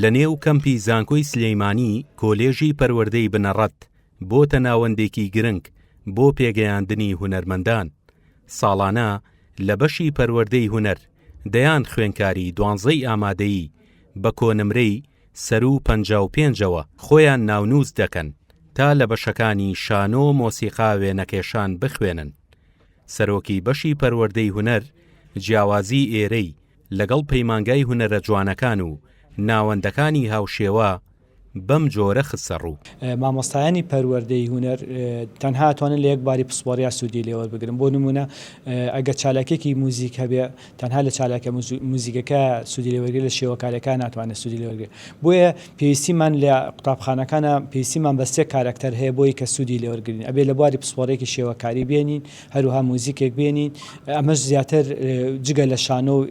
لە نێو کەمپی زانکۆی سلیمانی کۆلێژی پەروەردەی بنەڕەت بۆتە ناوەندێکی گرنگ بۆ پێگەیاندنی هونەرمەندان، ساڵانە لە بەشی پەروەردەی هونەر دەیان خوێنکاری دوانزەی ئامادەیی بە کۆنمرەی سەروو پەنجا و پێنجەوە خۆیان ناونووس دەکەن تا لە بەشەکانی شانۆ مۆسیقا وێنەکێشان بخوێنن، سەرۆکی بەشی پەروەردەی هونەر جیاوازی ئێرەی لەگەڵ پەیمانگای هونەرە جوانەکان و ناوەندەکانی هاوشێوە بەم جۆرە خستەڕوو. مامۆستایانی پەروەردەی هونەر تەنها ئەتوانن لە یەک باری پسپۆڕیا سوودی لێوەربگرن، بۆ نموونە ئەگەر چالاکیەکی موزیک هەبێ تەنها لە چالاکە موزیکەکە سوودی لێوەرگێ لە شێوەکارەکە ناتوانێت سوودی لێوەرگێ بۆیە پێویستیمان لە قوتابخانەکانە پێویستیمان بەسێ کارەکتەر هەیە بۆی کە سوودی لێوەرگین ئەبێ لە بواری پسپۆڕێکی شێوەکاری بێنین هەروەها موزیکێک بێنین ئەمەش زیاتر جگە لە شانۆ و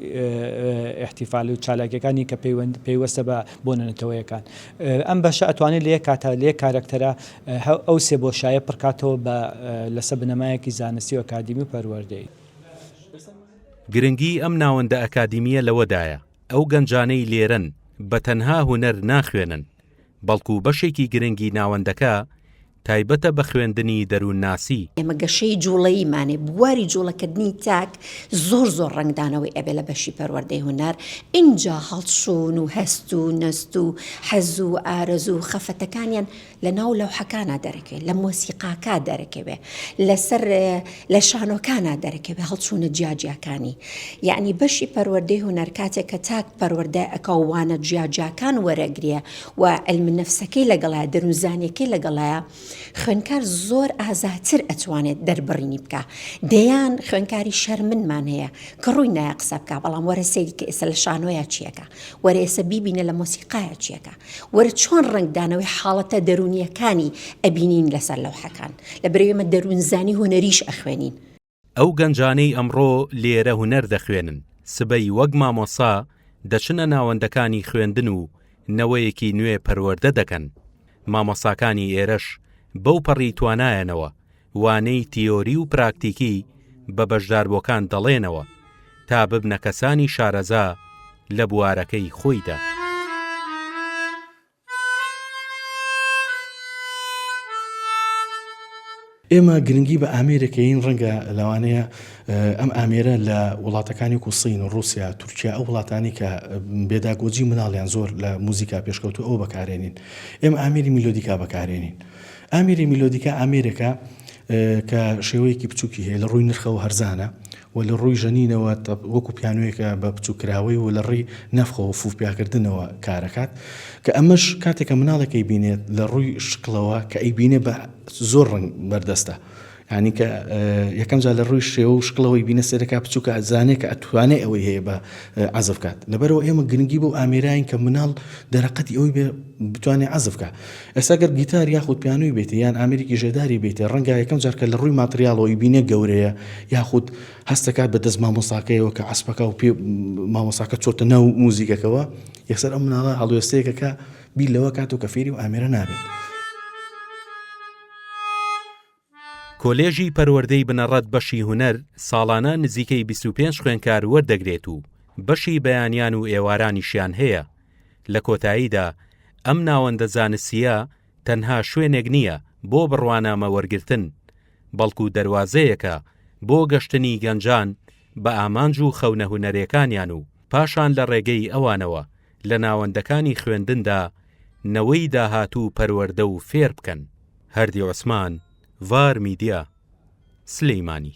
ئیحتیفال و چالاکیەکانی کە پەیوەند پەیوەستە بە بۆنە نەتەوەیەکان ئەم بەشە ئەتوانێت لە یەک کاتا لە یەک کارەکتەرا ئەو سێ بۆشایە پڕکاتەوە بە لەسە بنەمایەکی زانستی و ئەکادیمی و پەروەردەیی. گرنگیی ئەم ناوەندە ئەکادیمییە لەوەدایە ئەو گەنجانەی لێرەن بە تەنها هونەر ناخوێنن، بەڵکو بەشێکی گرنگی ناوەندەکە، تایبەتە بە خوێندنی دەروونناسی. ئێمە گەشەی جوڵەییمانێ، بواری جوڵەکردنی تاک زۆر زۆر ڕەنگدانەوەی ئەبێ لە بەشی پەروەردەی هونەر، ئینجا هەڵچوون و هەست و نەست و حەز و ئارەزوو و خەفەتەکانیان لە ناو لەوحەکانا دەرەکەوێ، لە مۆسیقاکا دەرەکەوێ، لە سەر لە شانۆکانا دەرەکەوێ، هەڵچوونە جیاجیاکانی. یەعنی بەشی پەروەردەی هونەر کاتێک کە تاک پەروەردە ئەکا و وانە جیاجیاکان وەرەگرێ و علم نفسەکەی لەگەڵایە دەروونزانیەکەی لەگەڵایە خوێنکار زۆر ئازاتر ئەتوانێت دەربڕینی بکا دەیان خوێنکاری شەرمنمان هەیە کە ڕووی نایە قسە بکە بەڵام وەرە سەیری کە ئێستا لە شانۆیا چیەکە وەرە ئێسە بیبینە لە مۆسیقایا چیەکە وەرە چۆن ڕنگدانەوەی حاڵەتە دەرونیەکانی ئەبینین لەسەر لەو حەکان لە برێمە دەروونزانی هوەریش ئەخوێنین ئەو گەنجانەی ئەمڕۆ لێرە هونەر دەخوێنن سبەی وەک مامۆسا دەچنە ناوەندەکانی خوێندن و نەوەیەکی نوێ پەروەردە دەکەن مامۆساکانی ئێرەش بەو پەڕی توانایانەوە وانەی تیۆری و پراکتیکی بە بەشداربووەکان دەڵێنەوە تا ببنە کەسانی شارەزا لە بوارەکەی خۆیدا. ئێمە گرنگی بە ئامێرەکەین ڕەنگە لەوانەیە ئەم ئامێرە لە وڵاتەکانی کوسین و رووسیا تورکیا ئەو وڵاتانی کە بێداگۆجی مناڵیان زۆر لە موزیکا پێشکەوتو ئەو بەکارێنین ئێم ئامێری میلۆدیکا بەکارێنین ئامێری میلۆدیکا ئامێرەکە کە شێوەیەکی بچووکی هەیە لە ڕووی نرخەوە هەرزانە و لە ڕووی ژەنینەوە تەپ وەکو پیانۆیەکە بە بچووکراوەی و لە ڕێی نەفخەوە فووپیاکردنەوە کارەکات کە ئەمەش کاتێکە مناڵێک ئەیبینێت لە ڕووی شکڵەوە کە ئەیبینێ بە زۆر ڕەنگ بەردەستە یعنی کە یەکەم جار لە ڕووی شێوە و شکڵەوەی بینە سێرەکە بچووکە ئەزانێت کە ئەتوانێت ئەوەی هەیە بە عزف کات لەبەرەوە ئێمە گرنگی بۆ ئامێرایین کە مناڵ دەرەقەتی ئەوی بێ بتوانێت عزف بکە ئێستا گەر گیتار یاخود پیانۆی بێتێ یان ئامێرێکی ژێداری بێتێ ڕەنگە یەکەم جار کە لە ڕووی ماتریاڵەوە ی بینێ گەورەیە یاخود هەست دەکات بە دەست مامۆستاکەیەوە کە عەسپەکە و پێ مامۆستاکە چۆتە ناو موزیکەکەوە یەکسەر ئەم مناڵە هەڵوێستەیەکە کە بیر لەوە کاتەوە کە فێری و ئامێرە نابێت. کۆلێژی پەروەردەی بنەڕەت بەشی هونەر ساڵانە نزیکەی بیست و پێنج خوێندکار وەردەگرێت و بەشی بەیانیان و ئێوارانیشیان هەیە، لە کۆتاییدا ئەم ناوەندە زانستییە تەنها شوێنێک نییە بۆ بڕوانامە وەرگرتن، بەڵکو دەروازەیەکە بۆ گەشتنی گەنجان بە ئامانج و خەونە هونەرێکانیان و پاشان لە ڕێگەی ئەوانەوە لە ناوەندەکانی خوێندندا نەوەی داهاتوو پەروەردە و فێر بکەن، هەردی عوسمان، ڤار میدیا، سلێمانی.